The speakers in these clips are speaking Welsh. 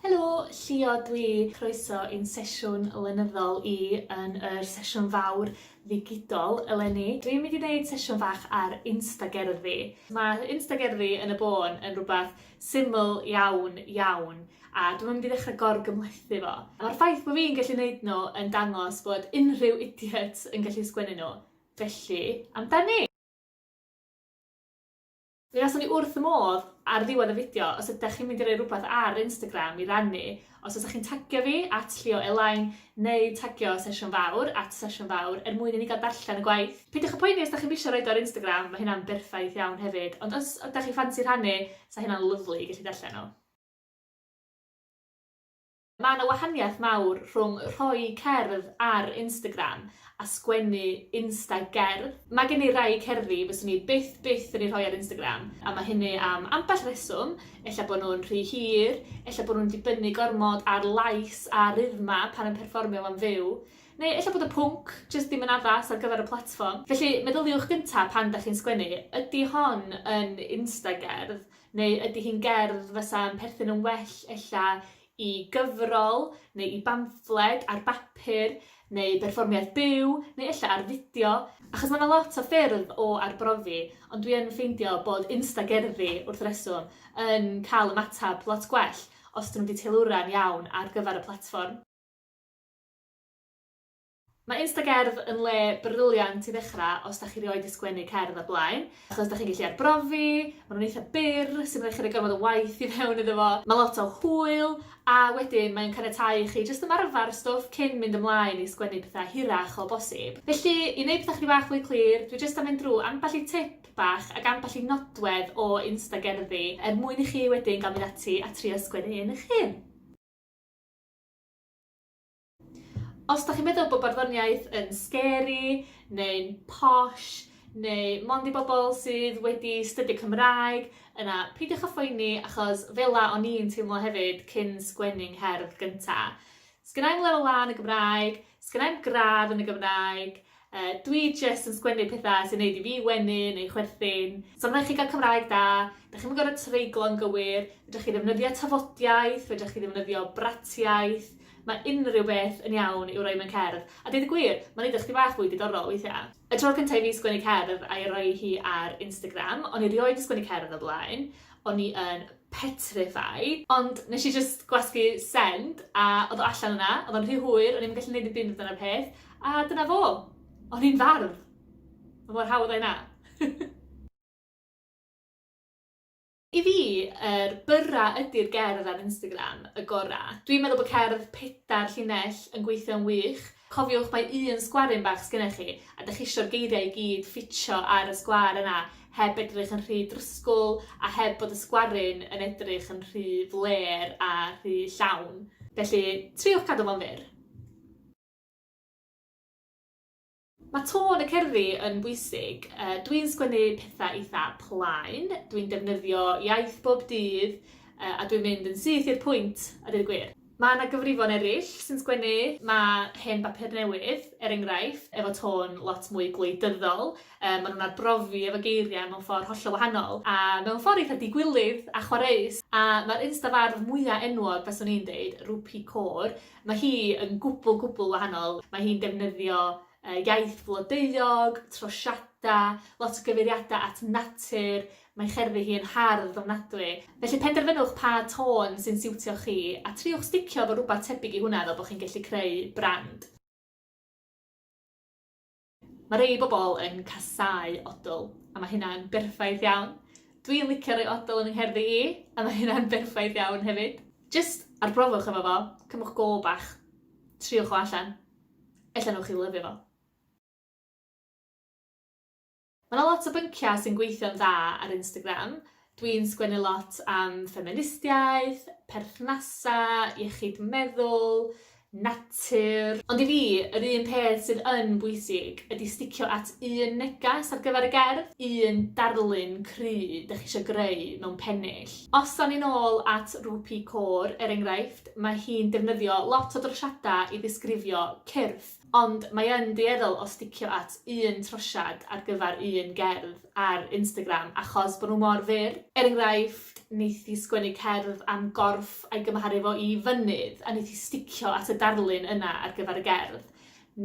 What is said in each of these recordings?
Helo, Llio dw i. Croeso i'n sesiwn lenyddol i yn yr sesiwn fawr ddigidol eleni. Dw i'n mynd i wneud sesiwn fach ar Instagerddi. Mae Instagerddi yn y bôn yn rhywbeth syml iawn, iawn, a dwi'm yn mynd i ddechrau gor-gymhlethu fo. Mae'r ffaith bod fi'n gallu wneud nhw yn dangos bod unrhyw idiot yn gallu sgwennu nhw. Felly, amdani! Mi faswn i wrth fy modd ar ddiwedd y fideo os ydach chi'n mynd i roi rhywbeth ar Instagram i rannu, os fysach chi'n tagio fi, at Llio Elain, neu tagio Sesiwn Fawr, at Sesiwn Fawr, er mwyn i ni gael darllen y gwaith. Peidiwch â phoeni os dach chi'm isio roid o ar Instagram, mae hynna'n berffaith iawn hefyd, ond os ydach chi ffansi rhannu, 'sa hynna'n lyfli i gallu darllen o. Mae yna wahaniaeth mawr rhwng rhoi cerdd ar Instagram a sgwennu insta gerdd. Mae gen i rai cerddi fyswn i byth byth yn eu rhoi ar Instagram a mae hynny am ambell reswm, ella bod nhw'n rhy hir, ella bod nhw'n dibynnu gormod ar lais a rythma pan yn perfformio am fyw, neu ella bod y pwnc jyst ddim yn addas ar gyfer y platfform. Felly meddyliwch gynta' pan 'da chi'n sgwennu, ydi hon yn insta gerdd? Neu ydy hi'n gerdd fysa'n perthyn yn well ella i gyfrol neu i bamffled ar bapur neu berfformiad byw neu ella ar fideo? Achos mae yna lot o ffyrdd o arbrofi ond dwi yn ffeindio bod Instagerddi, wrth reswm, yn cael ymateb lot gwell os ydyn nhw wedi teilwra'n iawn ar gyfer y platfform. Mae Instagerdd yn le briliant i ddechrau os da chi rioed di sgwennu cerdd o'r blaen, achos da chi'n gallu arbrofi, maen nhw'n eitha byr, sy'n rhoi chi rhoi gormod o waith i fewn iddo fo, mae lot o hwyl, a wedyn mae'n caniatáu i chi jyst ymarfer stwff cyn mynd ymlaen i sgwennu pethau hirach o bosib. Felly, i wneud pethau chydig bach fwy clir, dwi jyst am fynd drwy ambell i tip bach ac ambell i nodwedd o Instagerddi er mwyn i chi wedyn gael mynd ati a trio sgwennu un eich hun. Os da chi'n meddwl bod barddoniaeth yn scary, neu'n posh, neu mond i bobl sydd wedi stydio Cymraeg, yna peidiwch â phoeni achos fela o'n i'n teimlo hefyd cyn sgwennu'n ngherdd gynta. Sgynnai'm lefel A yn y Gymraeg, sgynnai'm gradd yn y Gymraeg, Yy, dwi jyst yn sgwennu petha sy'n neud i fi wenu neu chwerthin. So rhaid chi gael Cymraeg da, da chi'm yn gorfod treiglo yn gywir, fedrwch chi ddefnyddio tafodiaith, fedrwch chi ddefnyddio bratiaith, mae unrhyw beth yn iawn i'w roi mewn cerdd. A deud y gwir, mae'n neud o chdi bach fwy diddorol weithiau. Y tro cyntaf i fi sgwennu cerdd a'i roi hi ar Instagram, o'n i rioed 'di sgwennu cerdd o blaen, o'n i yn petrify. Ond nes i jyst gwasgu send a oedd o allan yna, oedd o'n rhy hwyr, o'n i'm yn gallu neud dim byd amdano'r peth, a dyna fo. O'n i'n fardd! Ma' mor hawdd â'i 'na. I fi, yr byrra ydi'r gerdd ar Instagram y gora. Dwi'n meddwl bod cerdd pedair llinell yn gweithio'n wych, Cofiwch mai un sgwaryn bach sgennych chi, a dych isio'r geiriau i gyd ffitio ar y sgwar yna heb edrych yn rhy drysgwl a heb bod y sgwaryn yn edrych yn rhy flêr a rhy llawn. Felly, triwch cadw fo'n fyr. Mae tôn y cerddi yn bwysig. Dwi'n sgwennu pethau eitha plaen, dwi'n defnyddio iaith bob dydd a dwi'n mynd yn syth i'r pwynt a deud y gwir. Mae yna gyfrifon eraill sy'n sgwennu mae hen bapur newydd, er enghraifft, efo tôn lot mwy gwleidyddol, yy maen nhw'n arbrofi efo geiriau mewn ffordd hollol wahanol, a mewn ffordd eitha digwilydd a chwareus, a mae'r instafardd mwya enwog, faswn i'n deud, Rupi Kaur, mae hi yn gwbl, gwbl wahanol, mae hi'n defnyddio yy iaith flodeuog, trosiadau, lot o gyfeiriadau at natur, Mae cerddi hi yn hardd ofnadwy, felly penderfynwch pa tôn sy'n siwtio chi, a triwch sticio efo rhywbeth tebyg i hwnna fel bod chi'n gallu creu brand. Mae rhei bobl yn casáu odl, a mae hynna'n berffaith iawn. Dw i'n licio rhoi odl yn fy ngherddi i, a mae hynna'n berffaith iawn hefyd. Jyst arbrofwch efo fo, cymwch go bach, triwch o allan, ella wnewch chi lyfio fo. Mae 'na lot o bynciau sy'n gweithio'n dda ar Instagram. Dwi'n sgwennu lot am ffeministiaeth, perthnasau, iechyd meddwl, natur. Ond i fi, yr un peth sydd yn bwysig ydy sticio at un neges ar gyfer y gerdd, un darlun cry 'dych chi isio greu mewn pennill. Os 'da ni'n ôl at Rupi Kaur, er enghraifft, mae hi'n defnyddio lot o drosiadau i ddisgrifio cyrff. Ond mae yn dueddol o sticio at un trosiad ar gyfer un gerdd ar Instagram achos bod nhw mor fyr. Er enghraifft, wneith hi sgwennu cerdd am gorff a'i gymharu fo i fynydd a wneith hi sticio at y darlun yna ar gyfer y gerdd.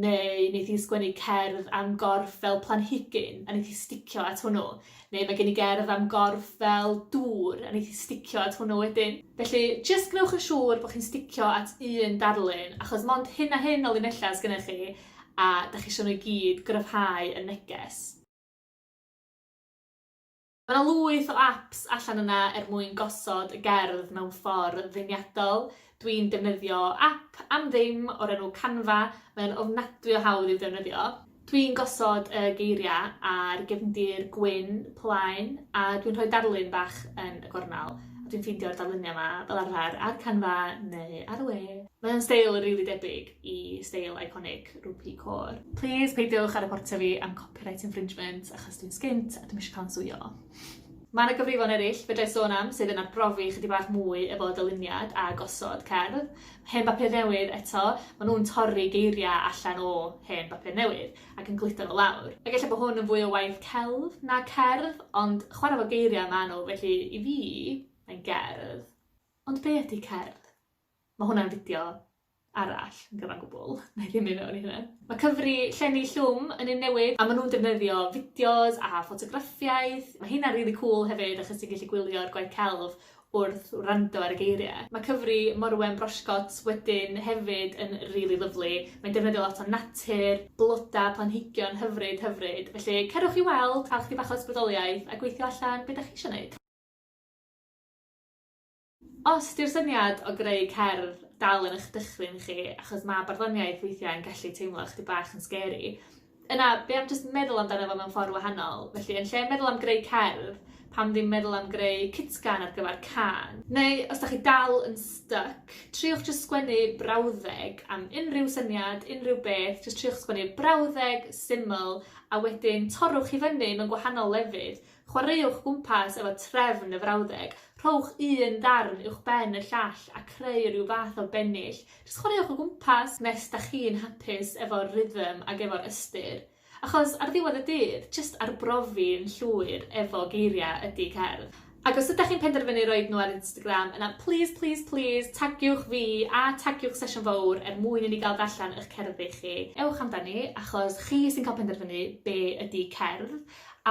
Neu wneith hi sgwennu cerdd am gorff fel planhigyn a wneith hi sticio at hwnnw. Neu mae gen i gerdd am gorff fel dŵr a neith i sticio at hwnnw wedyn. Felly, jyst gwnewch yn siŵr bod chi'n sticio at un darlun, achos mond hyn a hyn o linellau sy gennych chi, a dach chi isio nhw i gyd gryfhau y neges. Mae 'na lwyth o apps allan yna er mwyn gosod y gerdd mewn ffordd ddeniadol. Dwi'n defnyddio app am ddim o'r enw Canva, mae o'n ofnadwy o hawdd i'w defnyddio. Dwi'n gosod y geiriau ar gefndir gwyn plaen a dwi'n rhoi darlun bach yn y gornel a dwi'n ffeindio'r darluniau yma fel arfer ar Canva neu ar y we. Mae o'n steil rili debyg i steil eiconig Rupi Kaur. Plîs peidiwch â reportio fi am copyright infringement achos dwi'n sgint a dwi'm isio cael 'yn sueio. Mae yna gyfrifon eraill fedrai sôn am sydd yn arbrofi chydig bach mwy efo dyluniad a gosod cerdd. Hen bapur newydd, eto, maen nhw'n torri geiriau allan o hen bapur newydd ac yn gludo nhw lawr. Ac ella bod hwn yn fwy o waith celf na cerdd, ond chwarae efo geiriau maen nhw, felly i fi, mae'n gerdd. Ond be ydy cerdd? Mae hwnna'n fideo arall yn gyfan gwbl, na i ddim mynd mewn i hynna. Mae cyfri llenni llwm yn un newydd a maen nhw'n defnyddio fideos a ffotograffiaeth. Mae heina'n rili cŵl hefyd achos ti'n gallu gwylio'r gwaith celf wrth wrando ar y geiriau. Mae cyfri morwen brosigot wedyn hefyd yn rili lyfli, mae'n defnyddio lot o natur, blodau, planhigion hyfryd, hyfryd. Felly cerwch i weld, cael chydig bach o ysbrydoliaeth a gweithio allan be dach chi eisiau wneud. Os 'di'r syniad o greu cerdd dal yn eich dychryn chi, achos ma' barddoniaeth weithiau yn gallu teimlo ychydig bach yn scary, yna be' am jyst meddwl amdano fo mewn ffordd wahanol? Felly, yn lle meddwl am greu cerdd, pam ddim meddwl am greu cytgan ar gyfer cân? Neu, os 'dach chi dal yn styc, triwch jyst sgwennu brawddeg am unrhyw syniad, unrhyw beth, jyst triwch sgwennu brawddeg syml, a wedyn torrwch i fyny mewn gwahanol lefydd, Chwaraewch gwmpas efo trefn y frawddeg, rhowch un ddarn uwchben y llall a creu rhyw fath o bennill. Jyst chwaraewch o gwmpas nes da chi'n hapus efo'r rhythm ag efo'r ystyr. Achos ar ddiwedd y dydd, jyst arbrofi'n llwyr efo geiriau ydy cerdd. Ac os ydach chi'n penderfynu roid nhw ar Instagram, yna plîs, plîs, plîs, tagiwch fi a tagiwch Sesiwn Fowr er mwyn i ni gael darllen y'ch cerddi chi. Ewch amdani, achos chi sy'n cael penderfynu be ydy cerdd.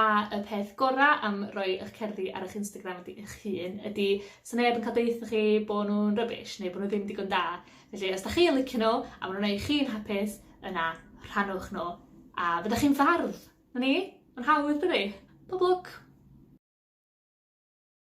A y peth gora am roi ych cerddi ar ych Instagram ydi ych hun ydi sa neb yn ca'l deutho chi bo nw'n rubbish neu bo nw ddim digon da. Felly os 'dach chi yn licio n'w a ma' nw'n neu' chi'n hapus yna rhannwch n'w a fyddech chi'n fardd! 'Na ni. Ma'n hawdd dydi? Pob lwc!